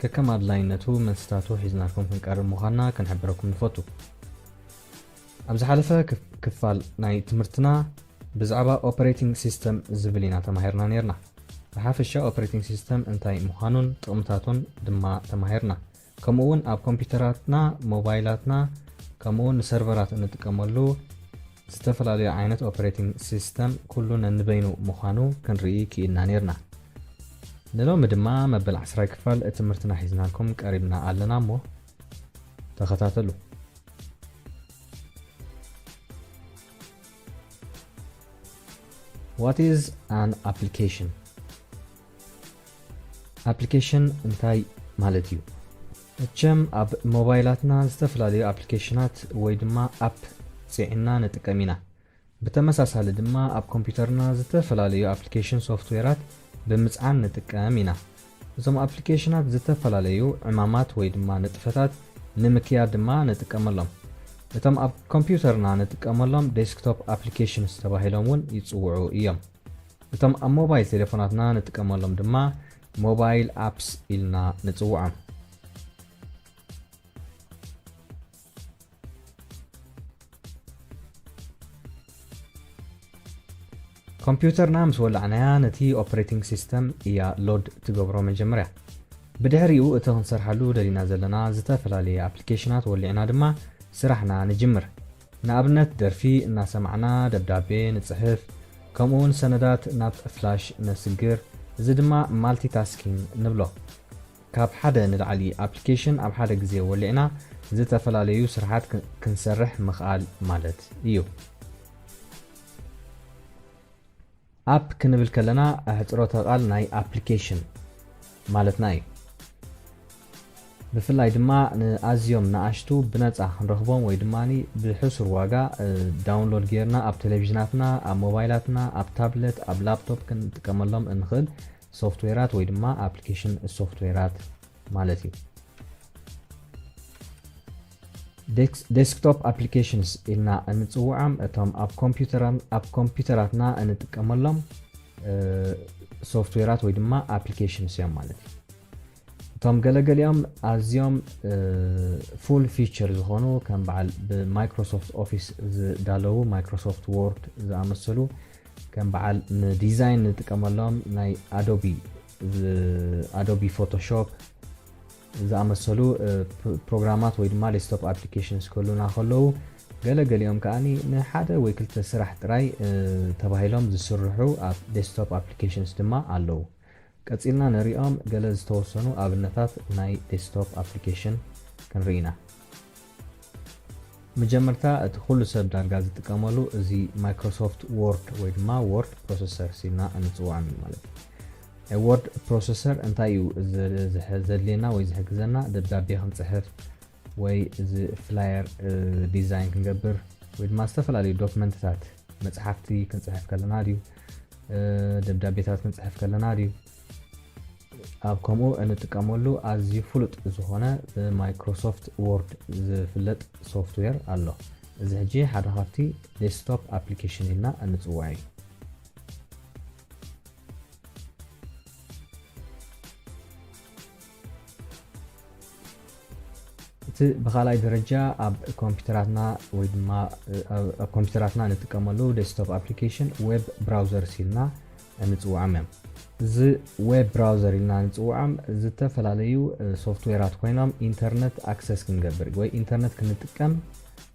ከከም ኣድላይነቱ መልስታቱ ሒዝናልኩም ክንቀርብ ምዃንና ክንሕብረኩም ንፈቱ። ኣብ ዝሓለፈ ክፋል ናይ ትምህርትና ብዛዕባ ኦፐሬቲንግ ሲስተም ዝብል ኢና ተማሂርና ኔርና። ብሓፈሻ ኦፐሬቲንግ ሲስተም እንታይ ምዃኑን ጥቕምታቱን ድማ ተማሂርና። ከምኡ'ውን ኣብ ኮምፒዩተራትና፣ ሞባይላትና ከምኡ'ውን ንሰርቨራት እንጥቀመሉ፣ ዝተፈላለዩ ዓይነት ኦፕሬቲንግ ሲስተም ኩሉ ነንበይኑ ምዃኑ ክንርኢ ክኢልና ኔርና። ንሎሚ ድማ መበል ዓስራይ ክፋል ትምህርትና ሒዝናልኩም ቀሪብና ኣለና እሞ ተኸታተሉ። What is an application? ኣፕሊኬሽን እንታይ ማለት እዩ? መቸም ኣብ ሞባይላትና ዝተፈላለዩ ኣፕሊኬሽናት ወይ ድማ ኣፕ ፂዒንና ንጥቀም ኢና። ብተመሳሳሊ ድማ ኣብ ኮምፒተርና ዝተፈላለዩ ኣፕሊኬሽን ሶፍትዌራት ብምፅዓን ንጥቀም ኢና። እዞም ኣፕሊኬሽናት ዝተፈላለዩ ዕማማት ወይ ድማ ንጥፈታት ንምክያድ ድማ ንጥቀመሎም። እቶም ኣብ ኮምፒውተርና ንጥቀመሎም ዴስክቶፕ ኣፕሊኬሽንስ ተባሂሎም እውን ይፅውዑ እዮም። እቶም ኣብ ሞባይል ቴሌፎናትና ንጥቀመሎም ድማ ሞባይል ኣፕስ ኢልና ንጽውዖም። ኮምፕዩተርና ምስ ወላዕናያ ነቲ ኦፕሬቲንግ ሲስተም እያ ሎድ ትገብሮ መጀመርያ። ብድሕሪኡ እቲ ክንሰርሓሉ ደሊና ዘለና ዝተፈላለየ ኣፕሊኬሽናት ወሊዕና ድማ ስራሕና ንጅምር። ንኣብነት ደርፊ እናሰማዕና ደብዳቤ ንጽሕፍ ከምኡ ውን ሰነዳት ናብ ፍላሽ ነስግር እዚ ድማ ማልቲ ታስኪን ንብሎ። ካብ ሓደ ንላዕሊ ኣፕሊኬሽን ኣብ ሓደ ግዜ ወሊዕና ዝተፈላለዩ ስርሓት ክንሰርሕ ምኽኣል ማለት እዩ። ኣፕ ክንብል ከለና ኣሕጽሮተ ቃል ናይ ኣፕሊኬሽን ማለትና እዩ። ብፍላይ ድማ ንኣዝዮም ንኣሽቱ ብነጻ ክንረኽቦም ወይ ድማ ብሕሱር ዋጋ ዳውንሎድ ጌርና ኣብ ቴሌቪዥናትና፣ ኣብ ሞባይላትና፣ ኣብ ታብለት፣ ኣብ ላፕቶፕ ክንጥቀመሎም እንኽእል ሶፍትዌራት ወይ ድማ ኣፕሊኬሽን ሶፍትዌራት ማለት እዩ። ዴስክቶፕ ኣፕሊኬሽንስ ኢልና እንፅውዖም እቶም ኣብ ኮምፒዩተራትና እንጥቀመሎም ሶፍትዌራት ወይ ድማ ኣፕሊኬሽንስ እዮም ማለት እዩ። እቶም ገለገሊኦም ኣዝዮም ፉል ፊቸር ዝኾኑ ከም በዓል ብማይክሮሶፍት ኦፊስ ዝዳለዉ ማይክሮሶፍት ዎርድ ዝኣመሰሉ ከም በዓል ንዲዛይን ንጥቀመሎም ናይ ኣዶቢ ኣዶቢ ፎቶሾፕ ዝኣመሰሉ ፕሮግራማት ወይ ድማ ዴስክቶፕ ኣፕሊኬሽንስ ክህሉና ከለዉ ገለ ገሊኦም ከኣ ንሓደ ወይ ክልተ ስራሕ ጥራይ ተባሂሎም ዝስርሑ ዴስክቶፕ ኣፕሊኬሽንስ ድማ ኣለዉ። ቀጺልና ንሪኦም ገለ ዝተወሰኑ ኣብነታት ናይ ዴስክቶፕ ኣፕሊኬሽን ክንርኢ ኢና። መጀመርታ እቲ ኩሉ ሰብ ዳርጋ ዝጥቀመሉ እዚ ማይክሮሶፍት ዎርድ ወይ ድማ ዎርድ ፕሮሰሰርስ ኢልና እንጽውዖም እዩ ማለት እዩ። ናይ ዎርድ ፕሮሰሰር እንታይ እዩ ዘድልየና ወይ ዝሕግዘና ደብዳቤ ክንጽሕፍ ወይ እዚ ፍላየር ዲዛይን ክንገብር ወይ ድማ ዝተፈላለዩ ዶክመንትታት መፅሓፍቲ ክንፅሕፍ ከለና ድዩ ደብዳቤታት ክንፅሕፍ ከለና ድዩ ኣብ ከምኡ እንጥቀመሉ ኣዝዩ ፍሉጥ ዝኾነ ብማይክሮሶፍት ዎርድ ዝፍለጥ ሶፍትዌር ኣሎ እዚ ሕጂ ሓደ ካብቲ ዴስክቶፕ ኣፕሊኬሽን ኢልና እንፅውዖ እዩ እቲ ብካልኣይ ደረጃ ኣብ ኮምፒተራትና ወይ ድማ ኣብ ኮምፒተራትና ንጥቀመሉ ዴስክቶፕ ኣፕሊኬሽን ዌብ ብራውዘርስ ኢልና ንፅውዖም እዮም። እዚ ዌብ ብራውዘር ኢልና ንፅውዖም ዝተፈላለዩ ሶፍትዌራት ኮይኖም ኢንተርነት ኣክሰስ ክንገብር ወይ ኢንተርነት ክንጥቀም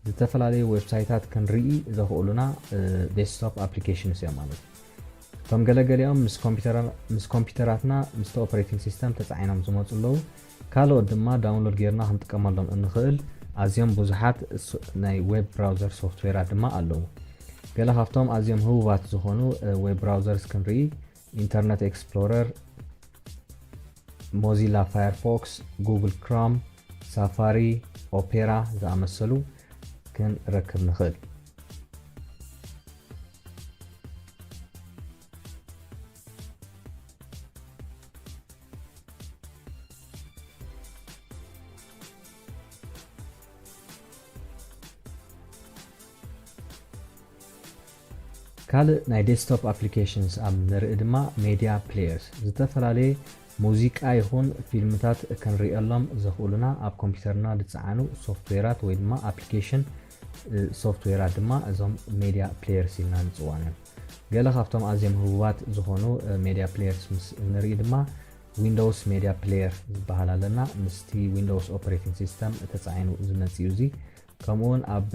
ዝተፈላለዩ ዌብሳይታት ክንርኢ ዘኽእሉና ዴስክቶፕ ኣፕሊኬሽንስ እዮም ማለት እዩ። እቶም ገለ ገሊኦም ምስ ኮምፒተራ ምስ ኮምፒተራትና ምስቲ ኦፕሬቲንግ ሲስተም ተጻዒኖም ዝመጹ ኣለዉ። ካልኦት ድማ ዳውንሎድ ጌርና ክንጥቀመሎም እንኽእል ኣዝዮም ብዙሓት ናይ ዌብ ብራውዘር ሶፍትዌራት ድማ ኣለዉ። ገለ ካብቶም ኣዝዮም ህቡባት ዝኾኑ ዌብ ብራውዘርስ ክንርኢ ኢንተርነት ኤክስፕሎረር፣ ሞዚላ ፋየርፎክስ፣ ጉግል ክሮም፣ ሳፋሪ፣ ኦፔራ ዝኣመሰሉ ክንረክብ ንኽእል። ካልእ ናይ ዴስክቶፕ ኣፕሊኬሽንስ ኣብ ንርኢ ድማ ሜድያ ፕሌየርስ ዝተፈላለየ ሙዚቃ ይኹን ፊልምታት ክንርእየሎም ዘኽእሉና ኣብ ኮምፒውተርና ዝፀዓኑ ሶፍትዌራት ወይ ድማ ኣፕሊኬሽን ሶፍትዌራት ድማ እዞም ሜድያ ፕሌየርስ ኢልና ንፅውዖም እዮም። ገለ ካብቶም ኣዝዮም ህቡባት ዝኾኑ ሜድያ ፕሌየርስ ምስ እንርኢ ድማ ዊንዶውስ ሜድያ ፕሌየር ዝበሃል ኣለና። ምስቲ ዊንዶውስ ኦፕሬቲንግ ሲስተም ተፃዒኑ ዝመፅእ እዩ እዚ። ከምኡ እውን ኣብ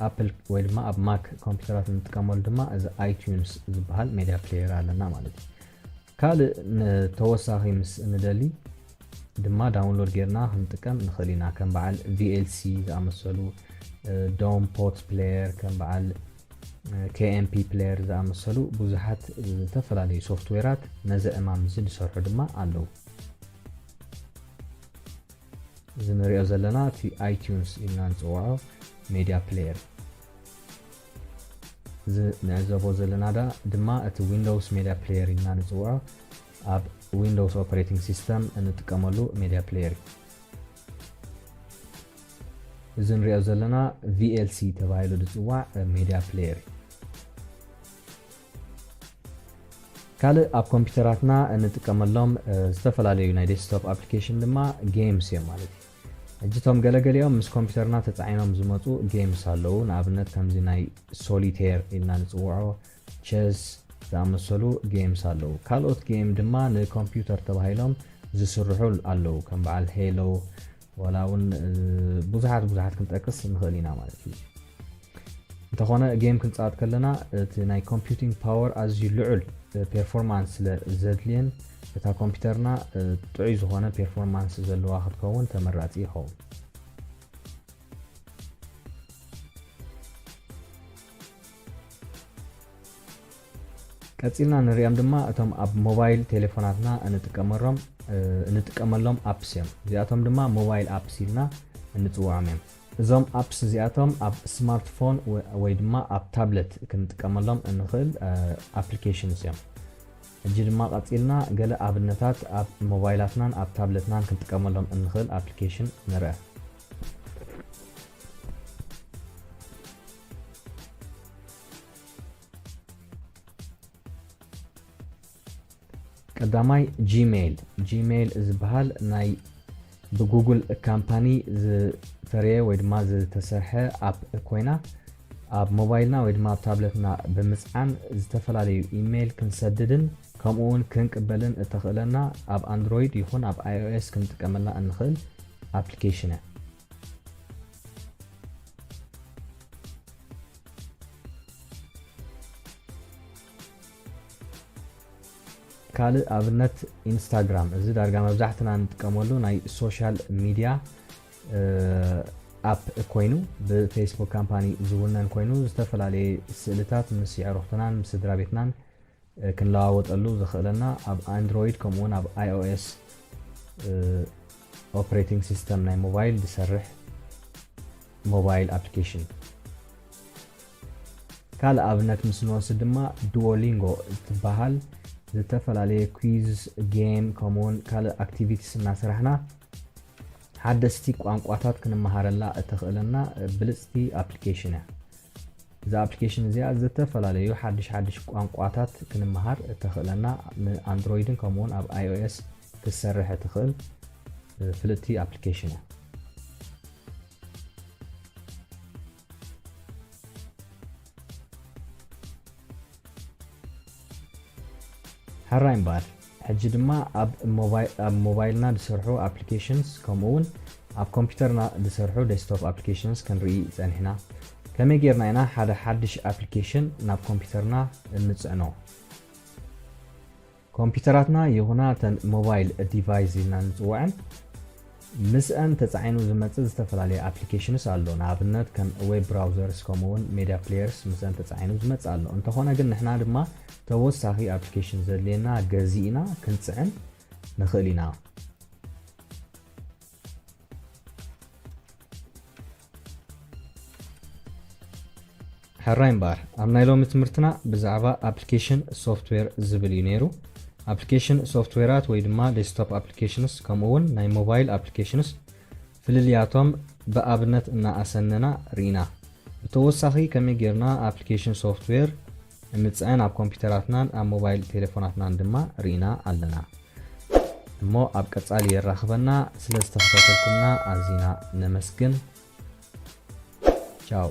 ኣፕል ወይ ድማ ኣብ ማክ ኮምፒውተራት እንጥቀመሉ ድማ እዚ ኣይቲዩንስ ዝበሃል ሜድያ ፕሌየር ኣለና ማለት እዩ። ካልእ ንተወሳኺ ምስ ንደሊ ድማ ዳውንሎድ ጌርና ክንጥቀም ንኽእል ኢና ከም በዓል VLC ዝኣመሰሉ ዶም ፖት ፕሌየር ከም በዓል KMP ፕሌየር ዝኣመሰሉ ብዙሓት ዝተፈላለዩ ሶፍትዌራት ነዚ ዕማም እዚ ዝሰርሑ ድማ ኣለዉ እዚ ንሪኦ ዘለና እቲ ኣይቲዩንስ ኢልና ንፅውዖ ሜድያ ፕሌየር እዩ እዚ ንዕዘቦ ዘለና ዳኣ ድማ እቲ ዊንዶውስ ሜድያ ፕሌየር ኢልና ንጽውዖ ኣብ ዊንዶውስ ኦፕሬቲንግ ሲስተም እንጥቀመሉ ሜድያ ፕሌየር እዩ። እዚ ንሪኦ ዘለና VLC ተባሂሉ ዝፅዋዕ ሜድያ ፕሌየር እዩ። ካልእ ኣብ ኮምፒውተራትና እንጥቀመሎም ዝተፈላለዩ ናይ ዴስክቶፕ ኣፕሊኬሽን ድማ ጌምስ እዮም ማለት እዩ። ሕጂ እቶም ገለገሊኦም ምስ ኮምፒተርና ተጻዒኖም ዝመጹ ጌምስ ኣለዉ፣ ንኣብነት ከምዚ ናይ ሶሊቴር ኢልና ንጽውዖ፣ ቸስ፣ ዝኣመሰሉ ጌምስ ኣለዉ። ካልኦት ጌም ድማ ንኮምፒተር ተባሂሎም ዝስርሑ ኣለዉ፣ ከም በዓል ሄሎ፣ ዋላ እውን ብዙሓት ብዙሓት ክንጠቅስ ንኽእል ኢና ማለት እዩ። እንተኾነ ጌም ክንጻወት ከለና እቲ ናይ ኮምፒዩቲንግ ፓወር ኣዝዩ ልዑል ፔርፎርማንስ ስለ ዘድልየን እታ ኮምፒዩተርና ጥዑይ ዝኾነ ፔርፎርማንስ ዘለዋ ክትከውን ተመራጺ ይኸውን። ቀጺልና ንሪኦም ድማ እቶም ኣብ ሞባይል ቴሌፎናትና እንጥቀመሎም እንጥቀመሎም ኣፕስ እዮም እዚኣቶም ድማ ሞባይል ኣፕስ ኢልና እንጽውዖም እዮም እዞም ኣፕስ እዚኣቶም ኣብ ስማርት ፎን ወይ ድማ ኣብ ታብለት ክንጥቀመሎም እንኽእል ኣፕሊኬሽንስ እዮም። ሕጂ ድማ ቀጺልና ገለ ኣብነታት ኣብ ሞባይላትናን ኣብ ታብለትናን ክንጥቀመሎም እንኽእል ኣፕሊኬሽን ንርኣ። ቀዳማይ ጂሜይል፣ Gmail፣ ዝበሃል ናይ ብጉግል ካምፓኒ ዝፈረየ ወይ ድማ ዝተሰርሐ ኣፕ ኮይና ኣብ ሞባይልና ወይ ድማ ኣብ ታብለትና ብምጽዓን ዝተፈላለዩ ኢሜይል ክንሰድድን ከምኡውን ክንቅበልን እተኽእለና ኣብ ኣንድሮይድ ይኹን ኣብ iOS ክንጥቀመላ እንኽእል ኣፕሊኬሽን እያ። ካልእ ኣብነት ኢንስታግራም እዚ ዳርጋ መብዛሕትና ንጥቀመሉ ናይ ሶሻል ሚድያ ኣፕ ኮይኑ ብፌስቡክ ካምፓኒ ዝውነን ኮይኑ ዝተፈላለየ ስእልታት ምስ የዕሩኽትናን ምስ ስድራ ቤትናን ክንለዋወጠሉ ዘኽእለና ኣብ ኣንድሮይድ ከምኡውን ኣብ ኣይኦኤስ ኦፕሬቲንግ ሲስተም ናይ ሞባይል ዝሰርሕ ሞባይል ኣፕሊኬሽን ካልእ ኣብነት ምስ ንወስድ ድማ ዱዎሊንጎ እትበሃል ዝተፈላለየ ኲዝ፣ ጌም ከምኡውን ካልእ ኣክቲቪቲስ እናሰራሕና ሓደስቲ ቋንቋታት ክንመሃረላ እተኽእለና ብልጽቲ ኣፕሊኬሽን እያ። እዛ ኣፕሊኬሽን እዚኣ ዝተፈላለዩ ሓድሽ ሓድሽ ቋንቋታት ክንመሃር እተኽእለና ንኣንድሮይድን ከምኡውን ኣብ ኣይኦኤስ ክትሰርሕ እትኽእል ፍልጥቲ ኣፕሊኬሽን እያ። ሕራይ እምበኣር ሕጂ ድማ ኣብ ሞባይልና ዝስርሑ ኣፕሊኬሽንስ ከምኡ እውን ኣብ ኮምፒውተርና ዝስርሑ ዴስክቶፕ ኣፕሊኬሽንስ ክንርኢ ጸኒሕና ከመይ ጌርና ኢና ሓደ ሓድሽ ኣፕሊኬሽን ናብ ኮምፒውተርና እንጽዕኖ ኮምፒዩተራትና ይኹና እተን ሞባይል ዲቫይስ ኢልና እንፅወዐን ምስአን ተፃዒኑ ዝመፅእ ዝተፈላለየ ኣፕሊኬሽንስ ኣሎ። ንኣብነት ከም ዌብ ብራውዘርስ ከምኡ እውን ሜድያ ፕሌየርስ ምስአን ተፃዒኑ ዝመፅእ ኣሎ። እንተኾነ ግን ንሕና ድማ ተወሳኺ ኣፕሊኬሽን ዘድልየና ገዚእና ክንፅዕን ንኽእል ኢና። ሕራይ እምበኣር ኣብ ናይ ሎሚ ትምህርትና ብዛዕባ ኣፕሊኬሽን ሶፍትዌር ዝብል እዩ ነይሩ። ኣፕሊኬሽን ሶፍትዌራት ወይ ድማ ዴስክቶፕ ኣፕሊኬሽንስ ከምኡ እውን ናይ ሞባይል ኣፕሊኬሽንስ ፍልልያቶም ብኣብነት እናኣሰነና ርኢና። ብተወሳኺ ከመይ ጌርና ኣፕሊኬሽን ሶፍትዌር ንምጽዕን ኣብ ኮምፒተራትናን ኣብ ሞባይል ቴለፎናትናን ድማ ርኢና ኣለና። እሞ ኣብ ቀጻሊ የራኽበና ስለ ዝተኸታተልኩምና ኣዚና ነመስግን። ቻው።